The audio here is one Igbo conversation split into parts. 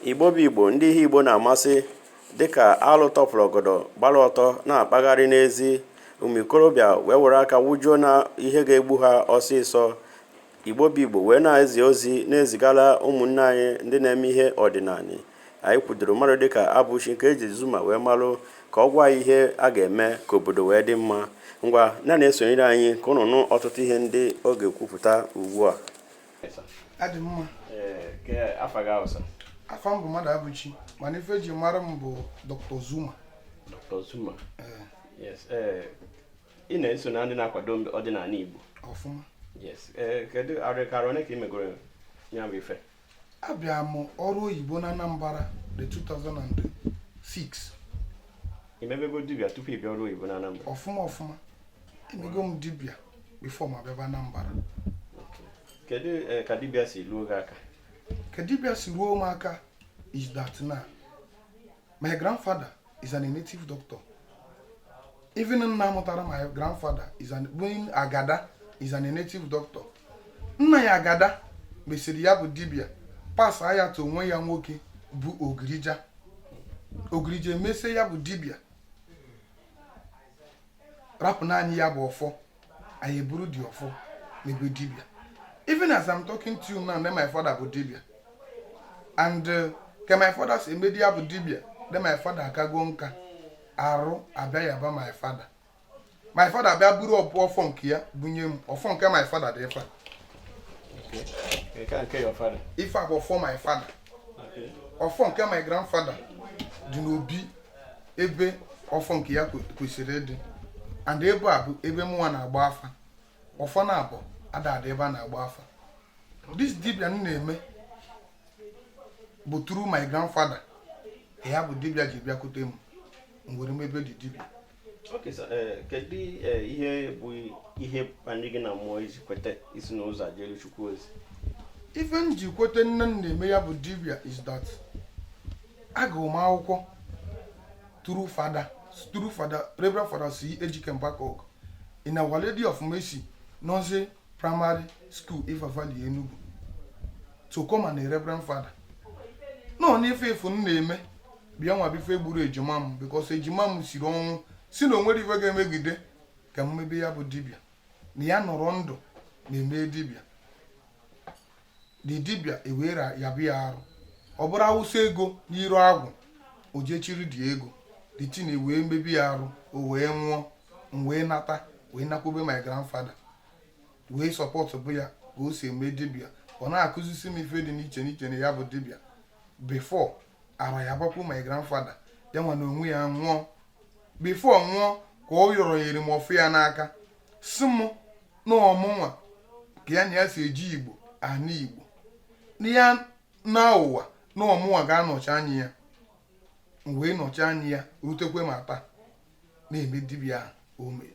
igbo bụ igbo ndị ihe igbo na-amasị dịka alụ tọpụrụ ọgọdọ gbara ọtọ na-akpagharị n'ezi ụmụ ikorobịa wee were aka wụjuo na ihe ga-egbu ha ọsịsọ igbo bụ igbo wee na-ezi ozi na-ezigara ụmụnne anyị ndị na-eme ihe ọdịnanị anyị kwudoro mmadụ dịka abụchi nke eji zuma wee malụ ka ọ gwa ihe a ga-eme ka obodo wee dị mma ngwa na na-esonyere anyị ka unu nụ ọtụtụ ihe ndị ọ ga-ekwupụta ugbu a adị mma afa gị awụsa afa m bụ mmadụabụchi mana ife eji mara m bụ dr zuma dr zuma ị na-eso na ndị na-akwado ọdịnanị igbo ọfụma kedu arọ kara one ka ị megoro ya bụ ife abịa m ọrụ oyibo na anambra the 2006 i mebego dibịa tupu ị bịa ọrụ oyibo na Anambra ọfụma ọfụma emego m dibịa before ma bịaba Anambra kedu eh, ka dibịa si luo gị aka ka dibịa si ruo m aka is that na my grandfather is an native doctor even nna mụtara my grandfather being agada is an native doctor nna ya agada mesịrị ya bụ dibịa pasa ya to nwa ya nwoke bụ ogirija ogirija emesie ya bụ dibịa rapụrụ anyị ya bụ ọfọ anyị eburu the ọfọ mebe dibịa even as i'm talking to you now then my father bụ dibịa and uh, ka my father si eme the ya bụ dibịa then my father akago nka arụ abịa yaba my father my father bịa buru ọfọ nke ya bunye m ọfọ nke my father dị ife ife a bụ ọfọ my father ọfọ nke my grandfather dị n'obi ebe ọfọ nke ya kwesịrị ịdị and ebe a bụ ebe mụnwa na-agba afa ọfọ naabọ ada adị ebe a na-agba afa this dibia m na-eme bụ through my grandfather ya bụ dibia ji bịakwute m m were mebe the dibia Okay, so, eh, kedu eh, ihe bụ ihe kpali gị na mmụọ i ji kweta isi n'ụzọ a jere Chukwu ozi ife m ji kweta na m na-eme ya bụ dibia is that agụrụ m akwụkwọ through father through father reverend father c ejike mbaka in our lady of mercy nursery primary school Iva Valley Enugu so ka mụ na reverend father nọ n'ife efu m na-eme bịa nwebe ife gburu ejima m because ejima m siri ọnwụ si na o nwere ife ga-emegide ka m mebe ya bụ dibịa na ya nọrọ ndụ na-eme dibịa the dibịa ewere ya bụ ya arụ ọ bụrụ awụsa ego n'iru agwụ o je chịrị the ego the thing wee mebi ya arụ o wee nwụọ m wee nata wee nakwube my grandfather wee supportụba ya ka o si eme dibịa ọ na-akụzisi m ife dị n'iche n'iche na ya bụ dibịa before ara ya gbakwu my grandfather ya nwa na onwe ya nwụọ before ọ nwụọ ka ọ yọrọ nyere m ọfọ ya n'aka sị m na ọ mụnwa ka ya na ya si eje Igbo ana Igbo na ya naa ụwa na ọ mụnwa ga-anọchi anya ya m wee nọchi anya ya rutekwe ma taa na-eme dibịa ahụ o mere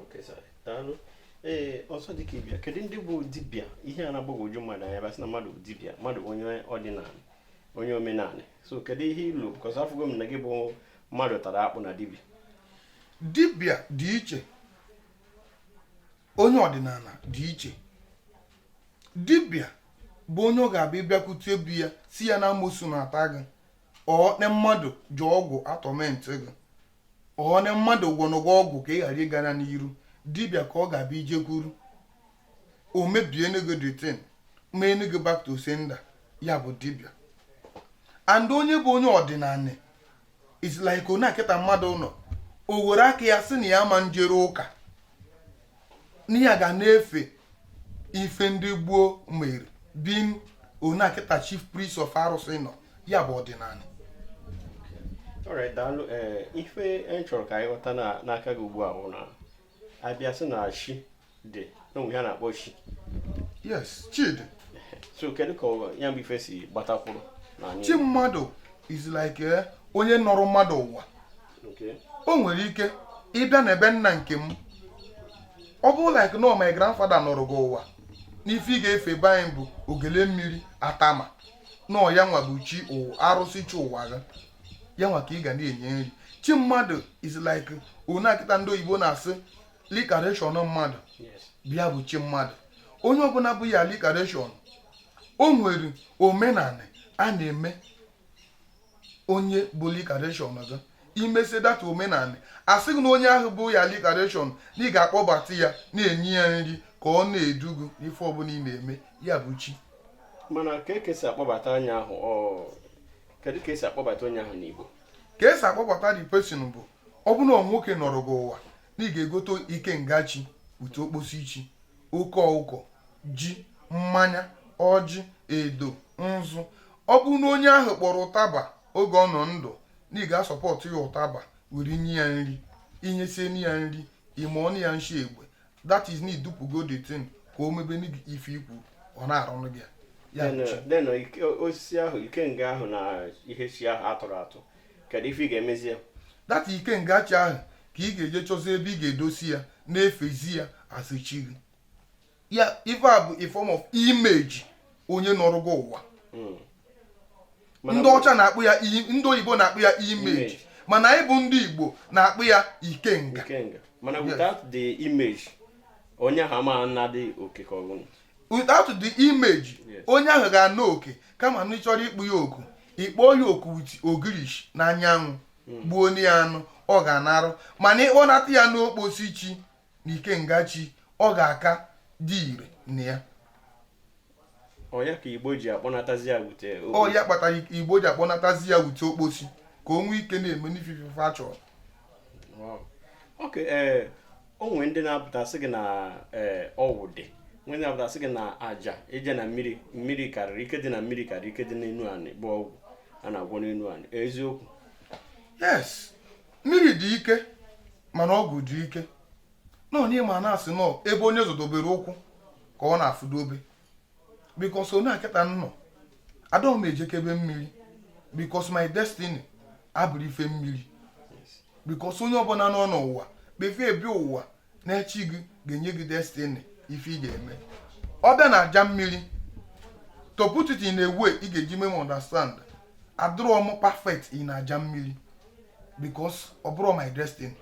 Okay, sir. Daalụ. Ee, ọzọ dị ka ibe ya kedu ndị bụ dibịa ihe a na-agbagwoju mmadụ anya ma a sị na mmadụ bụ dibịa mmadụ bụ onye ọdịnala onye omenala so kedu ihe ilu because afụgo m na gị bụ mmadụ tara akpụ na dibịa dibịa dị iche onye ọdịnala dị iche dibịa bụ onye ọ ga-abụ ị bịakwute be ya sị ya na amosu na-ata gị or na mmadụ ji ọgwụ atorment gị or na mmadụ gwọnụ gị ọgwụ ka ị ghara ịgara n'iru dibịa ka ọ ga-abụ i jekwuru o mebienụ gị the thing meenụ gị back to sender ya bụ dibịa and onye bụ onye ọdịnala is like onye a kịta mmadụ nọ o were aka ya sị na ya ma njere ụka na ya ga na-efe ife ndị gboo mere being onye a kịta chief priest of arụsị nọ ya bụ ọdịnala alright daalụ ee eh, ife anyị chọrọ ka anyị ghọta n'aka gị ugbu a bụ na a bịa sị na chi dị o nwee ihe a na-akpọ chi yes chi dị so kedu ka ya bụ ife si gbatakwuru chi mmadụ is like eh, onye nọrọ mmadụ ụwa o nwere ike ịbịa na be nna nke m ọ bụrụ like na my grandfather nọrọ gị ụwa n'ife ị ga-efe be anyị bụ ogele mmiri atama na ya nwa bụ chi arụsị chi ụwa gị ya nwa ka ị ga na-enye nri chi mmadụ is like onye a kịta ndị oyibo na-asị reincarnation mmadụ bụ ya bụ chi mmadụ onye ọbụla bụ your reincarnation o nwere omenala a na-eme onye bụ reincarnation gị i mesịa that omenala a sị gị na onye ahụ bụ your reincarnation na ị ga-akpọbata ya na-enye ya nri ka ọ na-edu gị n'ife ọbụla ị na-eme ya bụ chi mana ka e si akpọbata onye ahụ kedu ka e si akpọbata onye ahụ n'Igbo ka e si akpọbata the person bụ ọ bụrụ na nwoke nọrọ gị ụwa na ị ga-egote ikenga chi wute okposi chi oke ọkụkọ ji mmanya ọjị edo nzu ọ bụrụ na onye ahụ kpọrọ ụtaba oge ọ nọ ndụ na ị ga-asụpụta ya ụtaba were nye ya nri i nyesịa ya nri ime ọnụ ya nshi egbe that is na i dupugo the thing ka o mebe ife i kwuru ọ na-arụrụ gị ya then na osisi ahụ ikenga ahụ na ihe chi ahụ a tụrụ atụ kedu ife ị ga-emezi ya that ikenga chi ahụ ka ị ga-eje chọzi ebe ị ga-edosi ya na-efezi ya as chi gị ya ife a bụ a form of image onye nọrọgo ụwa hmm. ndị ọcha na-akpọ ya ndị oyibo na-akpọ ya image mana anyị bụ ndị igbo na-akpọ ya ikenga mana without the image onye ahụ ama na-adị oke ka ọ bụ without the image onye ahụ ga-ana oke kama na ị chọrọ ịkpọ ya oku ị kpọọ ya oku with ogirishi na anyanwụ hmm. gbuonye ya anụ ọ ga-anarụ mana ị kpọnata ya n'okposi chi na ikenga chi ọ ga-aka adị ire na ya ọ ya ka igbo ji akpọnatazi ya wute ọ ya kpatara igbo ji akpọnatazi ya wute okposi ka o nwee ike na-eme n'ifife a chọrọ ok ee eh, o nwere ndị na-apụta sị gị na eh, ọgwụ dị o nwere ndị na-apụta sị gị na aja ije na mmiri mmiri karịrị ike dị na mmiri karịrị ike dị n'enu anị bụ ọgwụ a na-agwọ n'enu anị eziokwu yes mmiri dị ike mana ọgwụ dị ike na onye ma na a sị na ọ ebe onye zọdobere ụkwụ ka ọ na-afụdobe because onye a kịta nnọọ adịghị m ejekebe mmiri because my destiny abụrọ ife mmiri because onye ọbụla nọ n'ụwa before ị bịa ụwa na chi gị ga-enye gị destiny ife ị ga-eme ọ bịa na aja mmiri to put it in a way ị ga-eji mee m understand adịrọ m perfect in aja mmiri because ọ bụrọ my destiny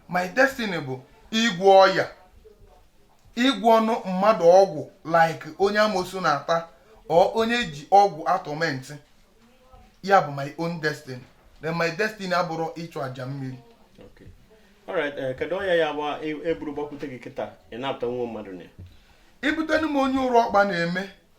my destiny bụ ịgwọ ọya ịgwọnụ mmadụ ọgwụ like onye amosu na-ata or onye ji ọgwụ a-torment ya bụ my own destiny then my destiny abụrọ ịchụ aja mmiri Okay. Alright, eh, kedu onye ya gba e- eburu gbakwute gị kịta ị napụta nwa mmadụ na ya i butenu m onye ụrụ ọkpa na-eme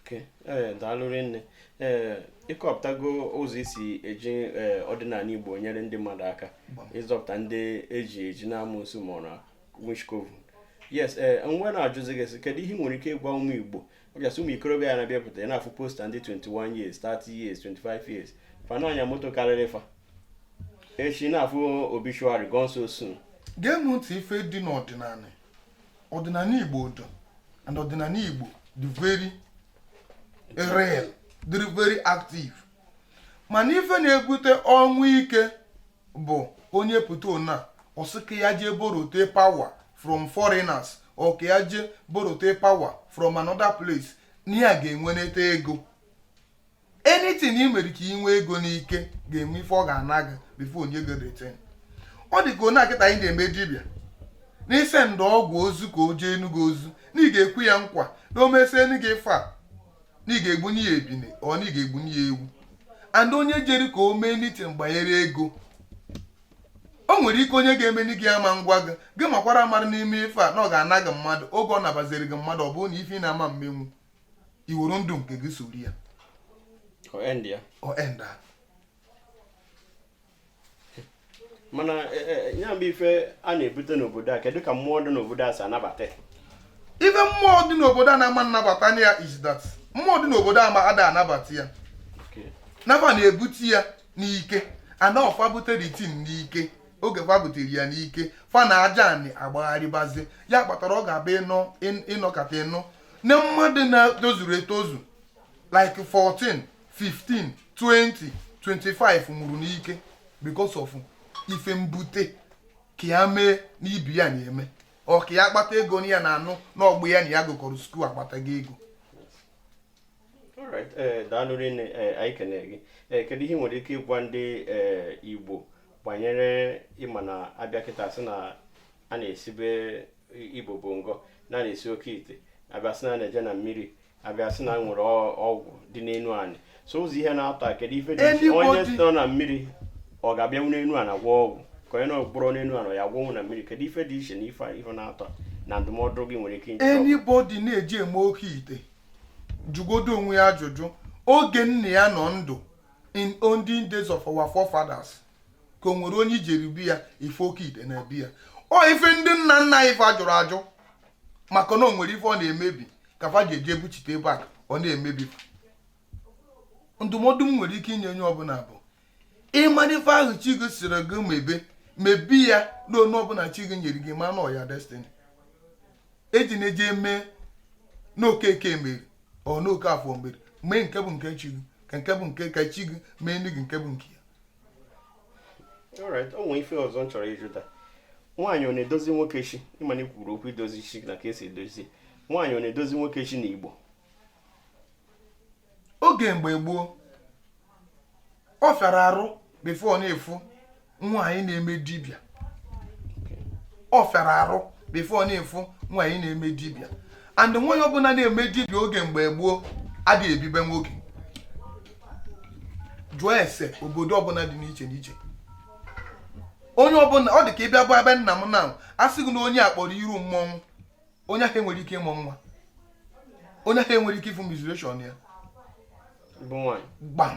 okay ee daalụ rinne ee ị kọpụtago ụzọ i si eji ee ọdịnanị igbo nyere ndị mmadụ aka ịzọpụta ndị e ji eji n'amosu ma ọ na witch coven yes ee m wee na-ajụzi gị sị kedu ihe ị nwere ike ịgwa ụmụ igbo ọbịasị ụmụ ikorobịa a na-abịapụta ị na-afụ poster ndị 21 years 30 years 25 years fa na-anya moto karịrị fa echi ị na-afụ obituary gone so soon gee m ntị ife dị n'ọdịnanị ọdịnanị igbo dị and ọdịnanị igbo dị very real dị very active mana ife na-ebute ọnwụ ike bụ onye pụta na ọ sị ka ya jee borote power from foreigners or ka ya jee borote power from another place na ya ga-enweneta ego anything ị mere ka ị nwee ego n'ike ga-enwe ife ọ ga-ana gị before e nye gị the thing ọ dị ka onye a kịta anyị na-eme dibịa n'izi ndị ọgwụ ozi ka o jeenụ gị ozi na ị ga-ekwe ya nkwa na o mesienụ gị ife a na ị ga-egbunye ya ebine or na ị ga-egbunye ya ewu and onye jere ka o mee anything gbanyere ego o nwere ike onye ga-emeni gị ama ngwa gị gị makwara mara na ị mee ife a na ọ ga-ana gị mmadụ oge ọ nabaziri gị mmadụ ọ bụrụ na ife ị na-ama mmenwu i were ndụ nke gị soro ya ọ end mana e, e, e, ya bụ ife a na-ebute n'obodo a kedu ka mmụọ dị n'obodo a si anabata ife mmụọ dị n'obodo a na-ama nnabata ya is that mmụọ dị n'obodo a ma ada anabata ya na fa na-ebute ya n'ike na ọ fa bute the thing n'ike oge fa butere ya n'ike fa na aja anị agbagharịbazi ya kpatara ọ ga-abụ ị nọ ị nọkata ị nụ na mmadụ na-etozurọ etozu like 14 15 20 25 nwụrụ n'ike because of ife mbute ka ya mee na ibe ya na-eme or ka ya kpata ego na ya na-anụ na ọgbọ ya na ya gụkọrọ school akpatago ego Alright, eh, daalụ rinne eh, anyị kene gị Eh, kedu ihe ị nwere ike ịgwa ndị eh, igbo gbanyere ị ma na a bịa kịta sị na a na-esibe ibobo ngọ a na-esi oke ite a bịa sị na a na-eje na mmiri a bịa sị na e nwere ọgwụ dị n'enu anị so ụzọ ihe naatọ kedu ife dị onye nọ na mmiri ọ ga-abịanwu n'enu anị gwọọ ọgwụ ka onye nọburu n'enu anị ya gwọnwụ na mmiri kedu ife dị iche na ife ife naatọ na ndụmọdụ gị nwere ike inye anybody na-eji eme oke ite jụgodu onwe ya ajụjụ oge nna ya nọ ndụ in olden days of our forefathers ka o nwere onye i jere be ya ị fụ oke ite na be ya ọ ife ndị nna nna anyị fa jụrụ ajụ maka na o nwere ife ọ na-emebi ka fa ji eji ebuchite ebe a ọ na-emebi ndụmọdụ m nwere ike inye onye ọbụla bụ ị mara ife ahụ chi gị sịrị gị mebe mebe ya na onye ọbụla chi gị nyere gị ma na ọ your destiny ejina eje eme nke okeke mere or nke okafọ mere mee nke bụ nke chi gị ka nke bụ nke ka chi gị meenụ gị nke bụ nke ya alright o nwere ife ọzọ m chọrọ ịjụta nwaanyị ọ na-edozi nwoke chi ịma na i kwuru okwu idozi chi na ka e si edozi nwaanyị ọ na-edozi nwoke chi na igbo oge mgbe gboo ọ fịara arụ before ị na-afụ nwaanyị na-eme dibịa ọ fịara arụ before ị na-afụ nwaanyị na-eme dibịa and nwaanyị ọbụla na-eme dibịa oge mgbe gboo adịghị ebi be nwoke jụọ ese obodo ọbụla dị n'iche n'iche onye ọbụla ọ dị ka ị bịa bụ be nna m na a sị gị na onye a kpọrọ iru mmọnwụ onye ahụ enwerọ ike ịmụ nwa onye ahụ enwerọ ike ịfụ menstruation ya gbam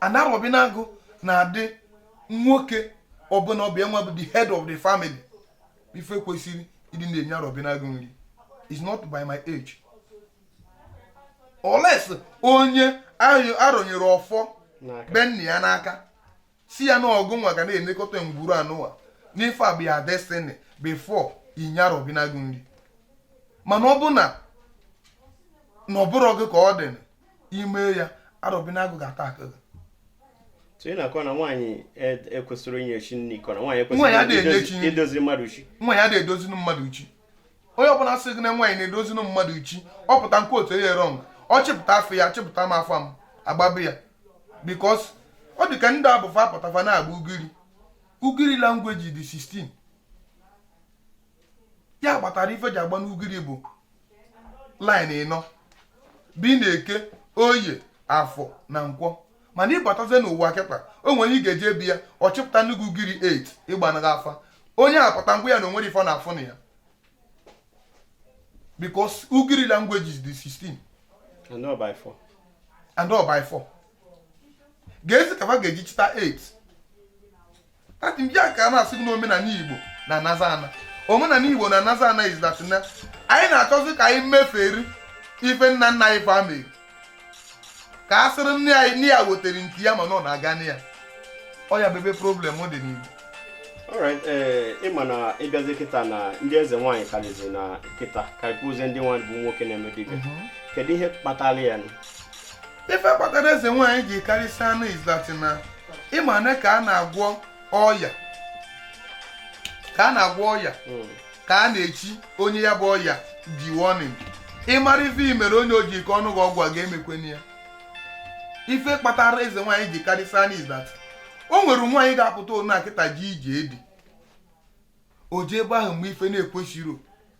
and arọbinagụ na-adị nwoke ọbụla ọ bụ ya nwa bụ the head of the family ife kwesịrị ịdị na-enye arọbinagụ nri is not by my age unless onye a rụnyere ọfọ be nna ya n'aka sị ya na ọ gụ nwa ga na-elekọta ngwuru anụwa n'ife a bụ ya destiny before i nye arọbinagụ nri mana ọ bụ na na ọ bụrọ gị ka ọ dị i mee ya arọbinagụ ga-ata aka gị so ị na-akọ na nwaanyị e- ekwesịrọ inye chi nri ị kọ na nwaanyị Nwaanyị ekwesịrọ adịghị enye chi idozi- nri. idozi mmadụ chi nwaanyị adịghị edozinu mmadụ chi onye ọbụla sị gị na nwaanyị na-edozinu mmadụ chi ọ pụta nke otu onye wrong ọ chịpụta afa ya chịpụta m afa m agbabe ya because ọ dị ka ndị a bụ fa pụta fa na-agba ugiri ugiri language dị 16 ya kpatara ife ji agba n'ugiri bụ line ịnọ bi na eke oye afọ na nkwọ mana ị batazie n'ụwa kịta o nwere ị ga-eje be ya ọ chịpụta nnukwu ugiri 8 ịgbanụ gị afa onye akpata ngwa ya na o nwerọ ife ọ na-afụ na ya because ugiri languages dị 16 and ọ bụ 4 keezi ka fa ga-eji chịta 8 adị m ya ka a na-asị gị na omenala igbo na-anazi ana omenala igbo na-anazi ana is that na anyị na-achọzi ka anyị meferi ife nna nna anyị fa mere ka a sịrị na ya wetara nke ya mana ọ na-aga na ya ọ ya bụ ebe problem dị n'igbo alright ee ịma na ị bịazi kịta na ndị eze nwaanyị karịzi na kịta karịkwuzie ndị nwa bụ nwoke na-eme dibịa kedu ihe kpatara ya ife kpatara eze nwaanyị ji karịsịa now is that na ịma na ka a na-agwọ ọya ka a na-agwọ ọya hmm. ka a na-echi onye ya bụ ọya ji warning ị mara ife i mere onye o ji ike ọnụ gị ọgwụ a ga-emekwana ya ife kpatara eze nwaanyị ji karịsịa now is that o nwere nwaanyị ga-apụtanụ kịta jee ije di o jee ebe ahụ mee ife na-ekwesịrọ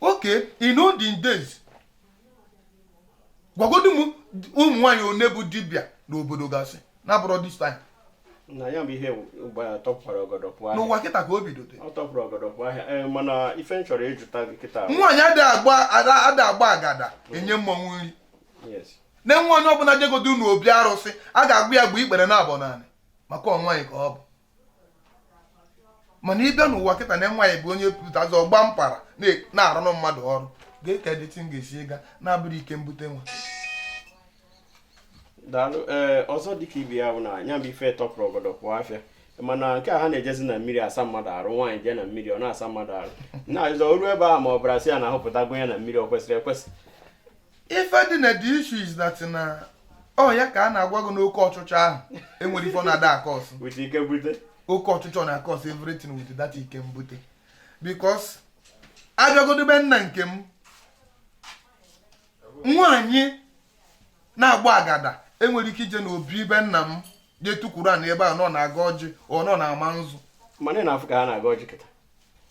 okay in olden days gwagodu m ụmụ nwaanyị one bụ dibịa n'obodo gasị na-abụrọ this time na ya bụ ihe gbara tọpụrụ ọgọdọ pụọ ahịa n'ụwa kịta ka o bido dị ọ tọpụrụ ọgọdọ pụọ ahịa ee mana ife m chọrọ ịjụta gị kịta bụ- nwaanyị ada agba ada ada agba agada enye mmọnwụ nri yes na nwaanyị ọbụla jegodu n'obi arụsị a ga-agwa ya gbuo ikpere naabọ n'ana maka ọ nwaanyị ka ọ bụ mana ị bịa n'ụwa kịta na nwaanyị bụ onye pụtazi ọ gba mpara na-arụrụ mmadụ ọrụ ga-eke dịtị m ga-esi ịga na-abụrọ ike mbute nwa daalụ ee ọzọ dịka ibe ya bụ na ya bụ ife tọpụrụ ọgọdọ pụọ afịa mana nke a ha na-ejezi na mmiri asa mmadụ arụ nwaanyị jee na mmiri ọ na-asa mmadụ arụ na-ajụzọ oru ebe a ma ọ bụrụ a sị ya na ahụpụtago ya na mmiri ọ kwesịrị ekwesị ife dị na the issue is that na ọ ya ka a na-agwa gị na oke ọchịchọ ahụ enwerọ ife ọ na-ada akọsụ with ike mbute oke ọchịchọ na-akọsụ everything with that ike mbute because a bịagodu be nna nke m nwaanyị na-agba agada enwerọ ike ije n'obi be nna m jee tukwuru ana ebe a nọ na-agọ ọjị ọ nọ na-ama nzu mana ị na-afụ ka ha na-agọ ọjị kịta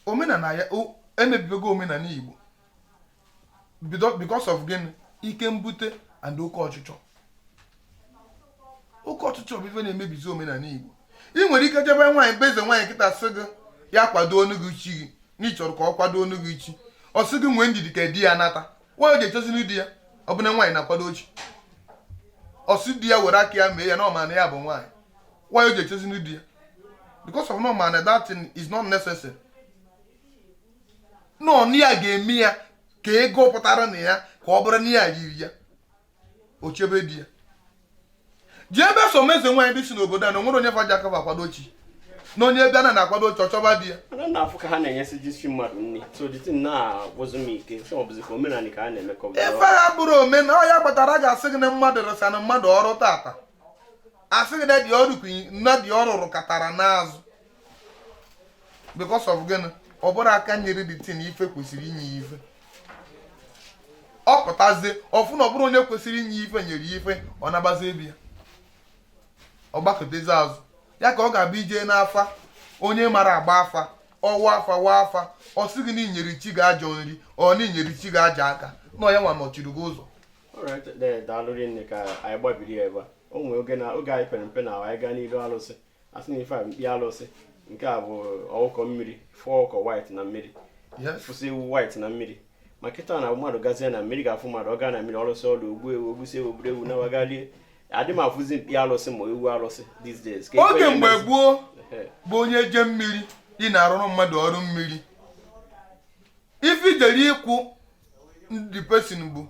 omenala ya o- emebibego omenala Igbo because of gịnị ike mbute and oke ọchịchọ oke ọchịchọ bụ ife na-emebizi omenala Igbo ị nwere ike je be nwaanyị be eze nwaanyị kịta sị gị ya kwadoonu gị chi gị na ị chọrọ ka ọ kwadoonu gị chi ọ sị gị nwee ndidi ka di ya nata why o ji echezinụ di ya ọ bụ na nwaanyị na-akwado chi ọ sị di ya were aka ya mee ya na ọ ma na ya bụ nwaanyị why o ji echezinụ di ya because of na ọ ma na that thing is not necessary na ọ na ya ga-eme ya ka ego pụtara na ya ka ọ bụrụ na ya riri ya o chebe di ya jeebe some eze nwaanyị dịsị n'obodo a na o nwerọ onye fa ji aka fa akwado chi na onye bịa na a na-akwado chi ọ chọba di ya ana m afụ ka ha na-enyesi chi mmadụ nri so the thing na-agwụzi m ike so ọ bụzi ka omenala ka a na-eme ka ife ha bụrụ omenala ọ ya kpatara a ga-asị gị na mmadụ rụsaanụ mmadụ ọrụ tata a sị gị na the ọrụ kwi- na the ọrụ rụkatara n'azụ because of gịnị ọ bụrọ aka nyere the thing ife kwesịrị inye ya ife ọ pụtazie ọ fụ na ọ bụrọ onye kwesịrị inye ife nyere ya ife ọ nabazie be ya ọ gbakụtazi azụ ya ka ọ ga-abịa ije n'afa onye mara agba afa ọ wa afa wa afa ọ sị gị na i nyere chi gị ajọ nri or na i nyere chi gị ajọ aka na ọ ya nwa nọchiri gị ụzọ daalụ rinne ka anyị gbabiri ya ebe a o nwee oge na oge anyị pere mpe na anyị gaa n'iru alụsị a sị na ife a mkpi alụsị nke a bụ ọkụkọ mmiri fụọ ọkụkọ white na mmiri fụsị ewu white na mmiri ma kịta na mmadụ gazie na mmiri ga-afụ mmadụ ọ gaa na mmiri ọ lụsịa ọlụ o gbuo ewu o gbusịa ewu buru ewu nawa ga lie adị m afụzi mkpi alụsị ma ewu alụsị these days oge mgbe gboo bụ onye jee mmiri ị na-arụrụ mmadụ ọrụ mmiri ife i jere ịkwụ the person bụ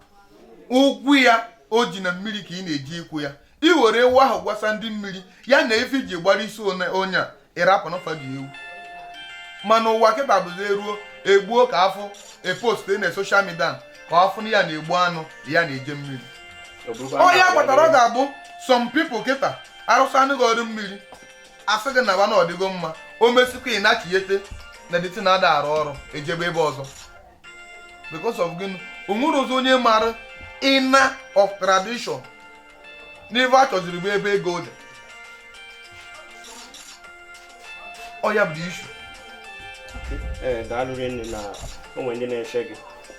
ụgwọ ya o ji na mmiri ka ị na-eje ịkwụ ya i were ewu ahụ gwasa ndị mmiri ya na ife i ji gbara isi onye a ị rapụ n'ọfa ji ewu mana ụwa kịta bụzi e ruo e gbuo ka a fụ e postuo na social media ka a fụ na ya na-egbu anụ ya na-eje mmiri ọ ya kpatara ọ ga-abụ some people kịta arụsịanụ gị ọrụ mmiri a sị gị na na ọ dịgo mma o mesikwa ị na-achịghete na the thing ada arụ ọrụ e jebe ebe ọzọ because of gịnị o nwerozi onye mara inner of tradition na ife a chọziri bụ ebe ego dị ọ ya bụ issue ee eh, daalụ rinne na o nwe ndị na-eche gị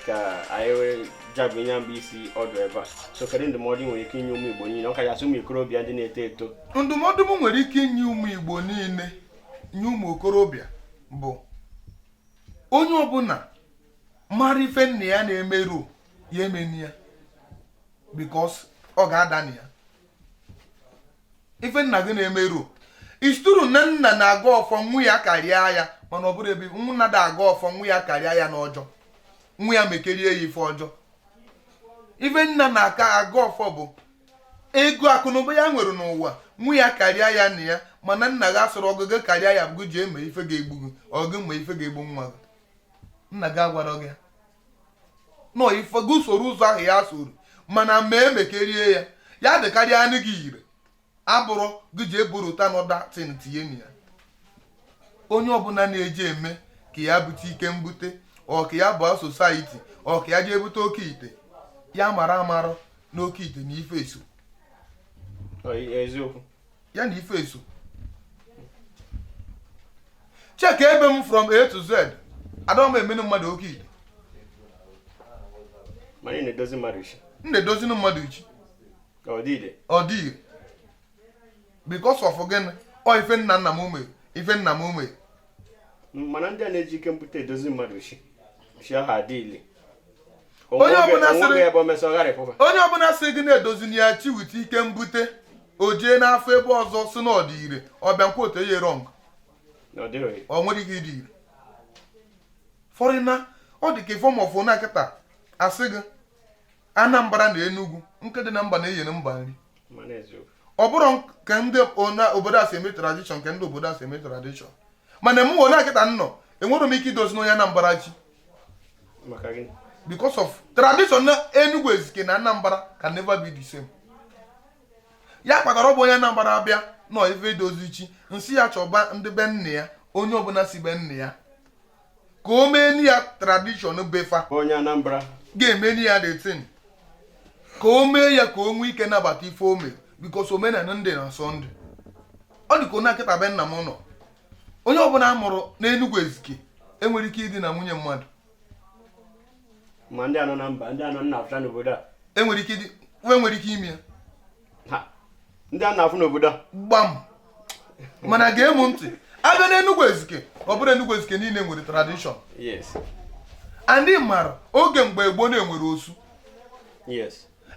ka anyị wee jabụ ihe mbụ isi ọdụ ebe a so kedu ndụmọdụ i nwere ike inye ụmụ igbo niile ọ kachasị ụmụ okorobịa ndị na-eto eto ndụmọdụ m nwere ike inye ụmụ igbo niile nye ụmụ okorobịa bụ onye ọbụla mara ife nna ya na-emerọ ya emena ya because ọ ga-ada na ya ife nna gị na-emerọ it's true na nna na-agọ ọfọ nwa ya karịa ya mana ọ bụrụ ebe nna ada agọ ọfọ nwa ya karịa ya n'ọjọọ nwa ya mekarịa ya ife ọjọọ ife nna na-aka agọ ọfọ bụ ego akụnụba ya nwere n'ụwa nwa ya karịa ya na ya mana nna gị asịrọ ọgwụ gị karịa ya bụ ji eme ife ga-egbu gị ọgwụ ma ife ga-egbu nwa gị nna gị agwarọ gị nọ ife gị soro ụzọ ahụ ya soro mana ma emekarịa ya ya dịkarịanụ gị ire abụrụ gị ji eburu ụta na other thing tinye na ya onye ọbụla na-eje eme ka ya bute ike mbute or ka ya ba society or ka ya jee bute oke ite ya mara amara na oke ite na ife eso eziokwu ya na ife eso check ebe m from a to z adịghị m emenụ mmadụ oke ite mana ị na-edozi mmadụ chi m na-edozinụ mmadụ chi ọdịde ọ dị ire because of gịnị ọ ife nna nna m mee ife nna m mee mana ndị a na-eji ike mbute edozi mmadụ chi chi ahụ adị ile Onye ọbụla sịrị- o nweghị ebe o mesị ọ gharịpụba onye ọbụla sị gị na-edozili ya chi with ike mbute o jee n'afa ebe ọzọ sị na ọ dị ire ọ bịa nkwa otu eye wrong na ọ dịghị ọ nwere ike ịdị ire for now ọ dị ka ife m fụ na kịta a sị gị anambra na enugwu nkụ dị na mba na-eyere mba nri ọ bụrọ ka ndị obodo a si eme tradition ka ndị obodo a si eme tradition mana mụnwa kịta nọ enwere m ike idozini onye Anambra chi because of tradition na Enugu Ezike na Anambra can never be the same ya kpatara ọ bụ onye Anambra abịa n'ife idozi chi m sị ya chọba ndị be nne ya onye ọbụna si be nne ya ka o meni ya tradition be fa onye Anambra ga-emeni ya the thing ka o mee ya ka o nwee ike nabata ife o mere because omenala ndị na-asọ ndị ọ dị ka na kịta be nna m nọ onye ọbụna a mụrụ n'Enugu Ezike enwere ike idina nwunye mmadụ ma ndị a nọ na mba ndị a na-afụcha n'obodo a enwere ike nwe nwere ike ime ya ndị a na-afụ n'obodo a gbam mana gee m ntị a bịa na Enugu Ezike ọ bụrọ Enugu Ezike niine nwere tradition and ị mara oge mgbe gboo na e nwere osu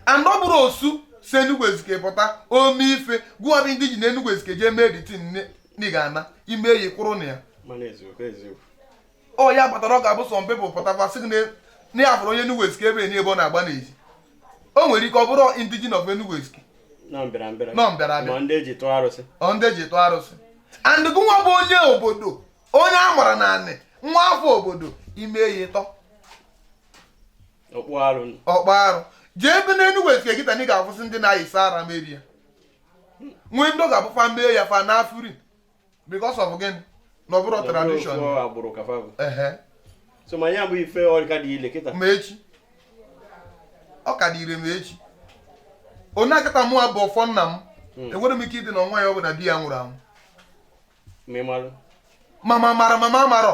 and ọ bụrụ osu si Enugu Ezike pụta o mee ife gịwa bụ indigene Enugu Ezike jee mee the thing na ị ga-ana ime eyi kwụrụ na ya ọ ya kpatara ọ ga-abụ some people pụta sị gị na ya fụrụ onye Enugu Ezike ebe enyi ebe ọ na-agba n'ezi o nwere ike ọ bụrọ indigene of Enugu Ezike nọ mbịarambịa nọ mbịarambịa ma ndị e ji tụọ arụsị ọ ndị e ji tụọ arụsị and gị nwa bụ onye obodo onye a mara na anị nwa afọ obodo i mee ya ị tọ ọkpụ arụ ọkpụ arụ jee ebe n'Enugu Ezike kịta na ị ga-afụsị ndị na-ayịsa ara meri ya nwee ndị ọ ga-abụ fa mee ya fa anafụrị because of gịnị na ọ bụrọ tradition agbụrụ ka fa bụ so ma ya bụ ife ọ ka dị ile kịta ma echi ọ ka dị ire ma echi ọ na kịta mụwa bụ ọfọ nna m hmm. enwere m ike idina nwaanyị ọbụna di ya nwụrụ anwụ ma m mara ma m marọ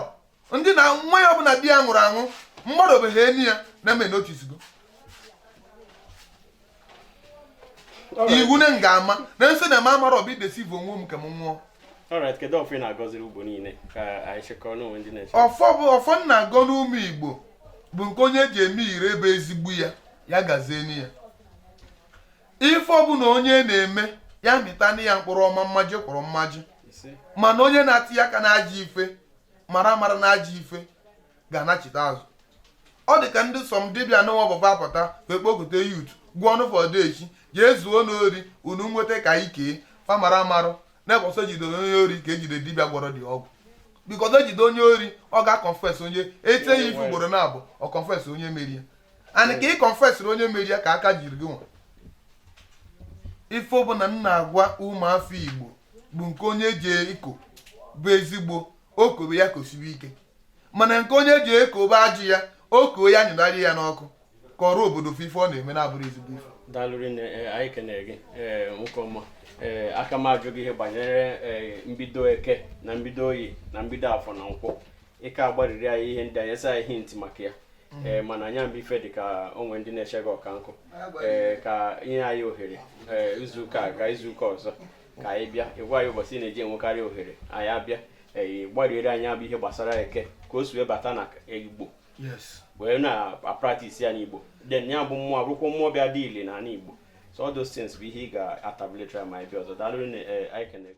m dina nwaanyị ọbụna di ya nwụrụ anwụ mmadụ obeghị enyi ya na-eme noticego iwu na nga ama na nso na m amara ọ bụ ideceive onwe m ka m nwụọ ọfọ bụ ọfọ m na-agọni ụmụ Igbo bụ nke onye ji eme ire ebe ezigbo ya ya gazieni ya ife ọbụna onye na-eme ya mịtani ya mkpụrụ ọma mmaji kwuru mmaji mana onye na-etiye aka n'ajọ ife mara mara na ajọ ife ga-anachite azụ ọ dị ka ndị some dibịa na-abụ fa apụta wee kpokọta youth gwọọni fa odeshi jee zuonu ori unu nweta ka e kee fa mara amarọ na ụbọsị e jide onye ori ka e jide dibịa gwọrọ the ọgwụ because e jide onye ori ọ ga-aconfess onye e tie ya ife ugboro naabọ ọ confess onye meri ya and ka ị confessịrị onye meri ya ka aka jiri gị nwa ife ọbụna m na-agwa ụmụafọ Igbo bụ nke onye ji eko bụ ezigbo o kobe ya kosibe ike mana nke onye ji eko bụ ajọ ya o ko ya nyụnarị ya n'ọkụ kọọrọ obodo ife ọ na-eme na abụrọ ezigbo ife daalụ rinne, anyị kenere gị e, nwoke ọma e, aka m ajụ gị ihe banyere mbido eke na mbido oye na mbido afọ na nkwọ ị ka agbariri anyị ihe ndị a nye anyị hint maka ya mm. ee eh, mana anya mba ife dị ka o nwe ndị na-eche gị ọka nkụ ee eh, ka i nye anyị ohere ee eh, izuụka a ka izuụka ọzọ ka anyị bịa ị gwa anyị ụbọchị ị na-eji enwekarị ohere anyị abịa ee gbariere anyị ya bụ ihe gbasara eke ka o si wee bata na igbo wee na-apractice ya n'igbo then ya bụ mmụọ abụrụkwa mmụọ bịa dị ile na ala igbo so all those things bụ ihe ị ga-atabuletra ma anyị bịa ọzọ daalụ anyị kenego